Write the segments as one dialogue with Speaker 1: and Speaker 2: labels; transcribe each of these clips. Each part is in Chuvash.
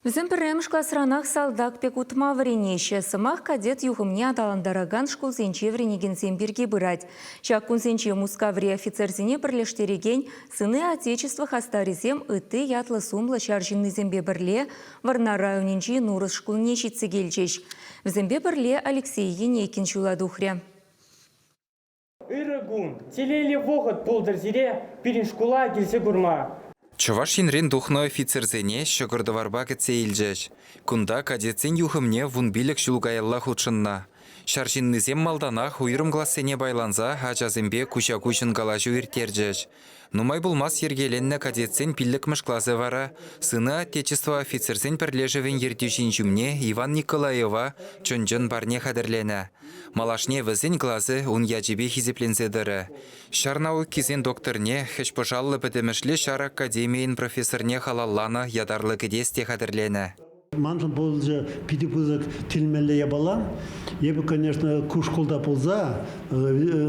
Speaker 1: Вӗсем пӗрремӗш класранах салтак пек утма вӗренеҫҫӗ. Сӑмах кадет юхӑмне аталантаракан шкулсенче вӗренекенсем пирки пырать. Ҫак кунсенче Мускаври офицерсене пӗрлештерекен Сыны Отечества хастарӗсем ытти ятлӑ-сумлӑ ҫар ҫыннисемпе пӗрле Вӑрнар районӗнчи Нурӑс шкулне ҫитсе килчӗҫ. Вӗсемпе пӗрле Алексей Енейкин ҫула тухрӗ. Ырӑ
Speaker 2: кун, телейлӗ вӑхӑт пултӑр сире пирӗн шкула килсе курма. Чӑваш Енрен
Speaker 3: тухнӑ офицерсене ҫӑкӑр-тӑварпа кӗтсе илчӗҫ. Кунта кадетсен юхӑмне вун пилӗк ҫул каялла хутшӑннӑ. Ҫар ҫыннисем малтанах уйрӑм классене пайланса ачасемпе куҫа-куҫӑн калаҫу ирттерчӗҫ, Нумай пулмасть йӗркеленнӗ кадетсен пиллӗкмӗш класӗ вара Сыны Отечества офицерсен пӗрлешӗвӗн ертӳҫин ҫумне Иван Николаева чӑн-чӑн парне хатӗрленӗ. Малашне вӗсен класӗ ун ячӗпе хисепленсе тӑрӗ. Ҫар наукисен докторне, хӗҫпӑшаллӑ пӗтӗмӗшле ҫар академийӗн профессорне халалланӑ ятарлӑ кӗтес те хатӗрленӗ. Маншӑн пулчӗ
Speaker 4: питӗ пысӑк тилмелле япала. Эпӗ, конечно, ку шкулта пулса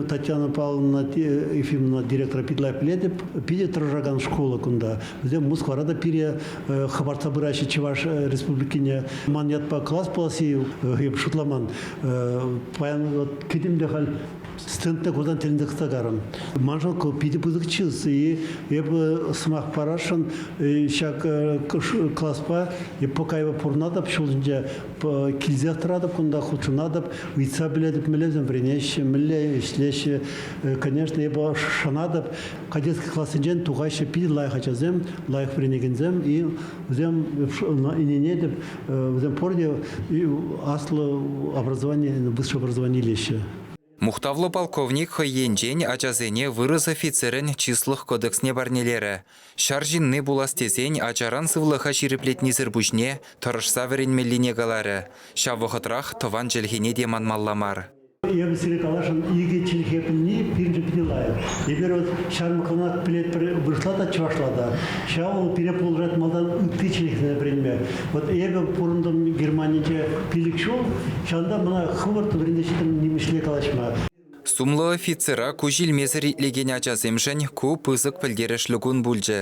Speaker 4: Татьяна Павловна Ефимовна директора питлай пӗлетӗп. Питӗ тӑрӑшакан шкула кунта. Вӗсем Москвара та пире хӑпартса пыраҫҫӗ Чӑваш Республикине. Ман ятпа класс пуласси эп шутламан. Паян вот кӗтӗм те халь Стендне курсан тӗлӗн тӑкса карӑм. Маншӑн ку питӗ пысӑк чыс. И эпӗ сӑмах парасшӑн ҫак класпа покайва пурӑнатӑп, ҫулсенче килсех тӑратӑп кунта, хутшӑнатӑп, ыйтса пӗлетӗп, мӗнлесем вӗренеҫҫӗ, мӗнле ӗҫлеҫҫӗ. Конечно, эпӗ шанатӑп, кадетский классенчен тухаҫҫӗ питӗ лайӑх ачасем, лайӑх вӗренекенсем, и вӗсем ӗненетӗп, вӗсем пурте аслӑ образование, высшее образование илеҫҫӗ. Мухтавлӑ
Speaker 3: полковник хӑй енчен ачасене вырӑс офицерӗн чыслӑх кодексне парнелерӗ. Ҫар ҫынни пулас тесен ачаран сывлӑха ҫирӗплетнисӗр пуҫне тӑрӑшса вӗренмеллине каларӗ. Ҫав вӑхӑтрах тӑван чӗлхене те манмалла мар. Эпӗ сире
Speaker 4: каласшӑн, икӗ чӗлхе пӗлни пирӗншӗн питӗ лайӑх. Эпир вӑл ҫармӑссанах пӗлетпӗр, вырӑсла та, чӑвашла та. Ҫавӑ вӑл пире пулӑшать малтан ытти чӗлхесене вӗренме. Вот эпӗ пурӑнтӑм Германинче пилӗк ҫул, ҫавӑнта мана хӑвӑрт вӗрентеҫҫӗ нимӗҫле калаҫма. Сумлӑ
Speaker 3: офицера куҫ илмесӗр итлекен ачасемшӗн ку пысӑк пӗлтерӗшлӗ кун пулчӗ.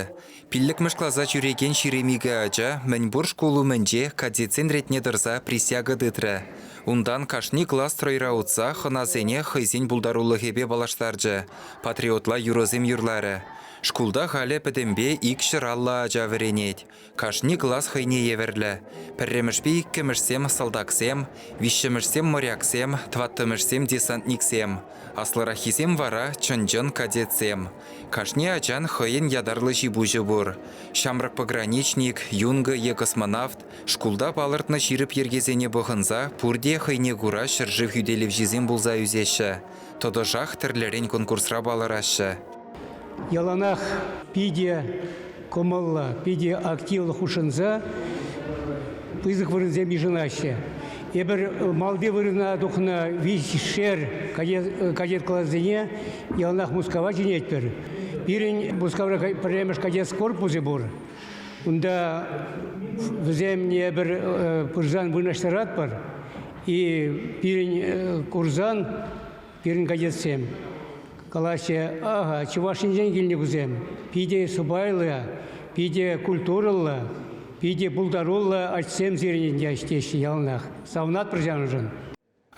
Speaker 3: Пиллӗкмӗш класа ҫӳрекен ҫирем икӗ ача мӗнпур шкул умӗнче кадетсен ретне тӑрса присяга тытрӗ. Унтан кашни класс стройра утса хӑнасене хӑйсен пултарулӑхӗпе паллаштарчӗ, патриотла юрӑсем юрларӗ. Шкулта халӗ пӗтӗмпе ик ҫӗр аллӑ ача вӗренет. Кашни класс хӑйне евӗрлӗ. Пӗрремӗшпе иккӗмӗшсем салтаксем, виҫҫӗмӗшсем моряксем, тӑваттӑмӗшсем десантниксем, аслӑраххисем вара чӑн-чӑн кадетсем. Кашни ачан хӑйӗн ятарлӑ ҫи-пуҫӗ пур. Ҫамрӑк пограничник, юнга е космонавт, шкулта палӑртнӑ ҫирӗп йӗркесене пӑхӑнса пурте хӑйне кура ҫӗршыв хӳтелевҫисем пулса ӳсеҫҫӗ. тӑтӑшах тӗрлӗрен конкурсра палӑраҫҫӗ. Яланах
Speaker 5: питӗ кӑмӑллӑ, питӗ активлӑ хутшӑнса пысӑк вырӑнсем йышӑнаҫҫӗ. Эпир малти вырӑна тухнӑ виҫшер кадет-классене яланах Мускава чӗнетпӗр. Пирӗн Мускавра пӗрремӗш кадет корпусӗ пур. Унта вӗсем пыр пырсан вырнаҫтаратпӑр. И пирӗн курсан пирӗн кадетсем калаҫҫӗ, ага, чӑваш енчен килнӗ вӗсем, питӗ сӑпайлӑ, питӗ культурӑллӑ, питӗ пултаруллӑ ачсем сирӗн теҫҫӗ яланах савӑнатпӑр ҫавӑншӑн.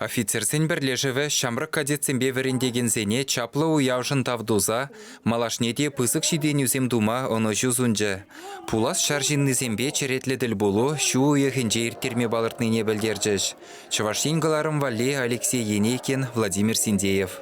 Speaker 5: Офицерсен
Speaker 3: пӗрлешӗвӗ ҫамрӑк кадетсемпе вӗрентекенсене чаплӑ уявшӑн тав туса Малашне те пысӑк ҫитӗнӳсем тума ӑнӑҫу сунчӗ. Пулас ҫар ҫыннисемпе черетлӗ тӗлпулу ҫу уйӑхӗнче ирттерме палӑртнине пӗлтерчӗҫ Чӑваш Ен кӑларӑм валли Алексей Енейкин, Владимир Синдеев.